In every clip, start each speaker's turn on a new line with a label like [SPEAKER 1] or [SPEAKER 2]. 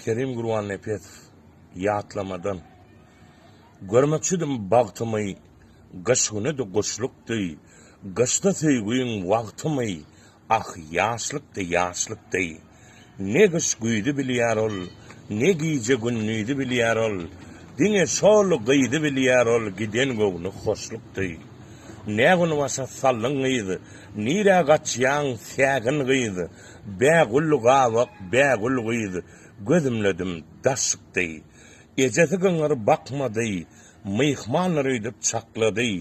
[SPEAKER 1] Kerim Gurbannepesow, Ýatlamadan. Görmekçidim bagtymy, Gyş güni-de guşlukdy, Gyşda söýgiň wagtymy, Ah, ýaşlykdy, ýaşlykdy. Ne gyş-güýzi bilýär ol, Ne gije-gündizi bilýär ol, Diňe şol gyzy bilýär ol, Giden göwni hoşlukdy. Nä gün başa saldyň gyz, Nirä gaçýaň, sägin gyz? Bä gül gabak, bä gül gyz, Gözümledim, daş çykdy. Ejesi gyňyr bakmady, Myhmandyr öýdüp çaklady,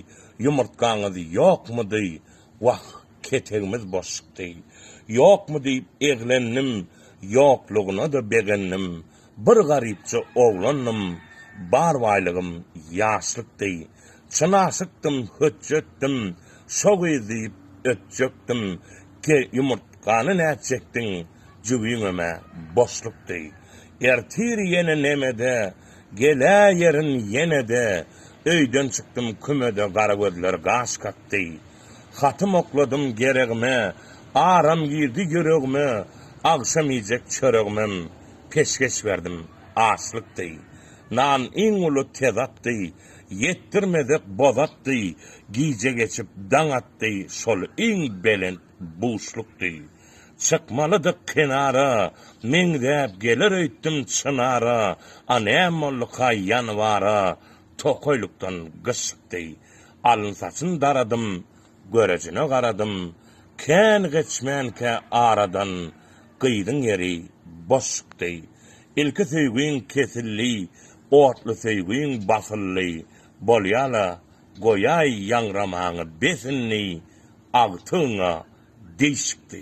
[SPEAKER 1] Ýumurtgaňyz ýokmudy? Wah, ketegimiz boş çykdy. Ýokmy diýip eglendim, Ýoklugyna-da begendim, Bir garypja oglandym, bar baýlygym ýaşlykdy. Çyn aşykdym, hötjetdim, şo gyz diýip ötjekdim. Ke, ýumurtgany nä çekdiň, jübiňem-ä boşlukdy. Ertir ýene nemede, geläýerin ýene-de, öýden çykdym kümede gara gözler gaş kakdy. Hatym okladym geregime, aram girdi ýüregime, agşam iýjek çöregimem peşgeş berdim, açlykdy. Nan iň uly tezatdy, ýetdirmezek bozatdy, gije geçip daň atdy, şol iň belent buşlukdy. Çykmalydyk kenara, meňzäp geler öýtdüm çynara, a näm bolduka ýanwara, tokaýlykdan gyşlykdy. Alyn-saçyn daradym, Görejine garadym, kän geçmänkä aradan Gyzyň ýeri boş çykdy. Ilki söýgiň kesildi, otly söýgiň basyldy, Bolýa-la, goýaý ýaňramaňy bes indi, Agtygyňa deýşikdi.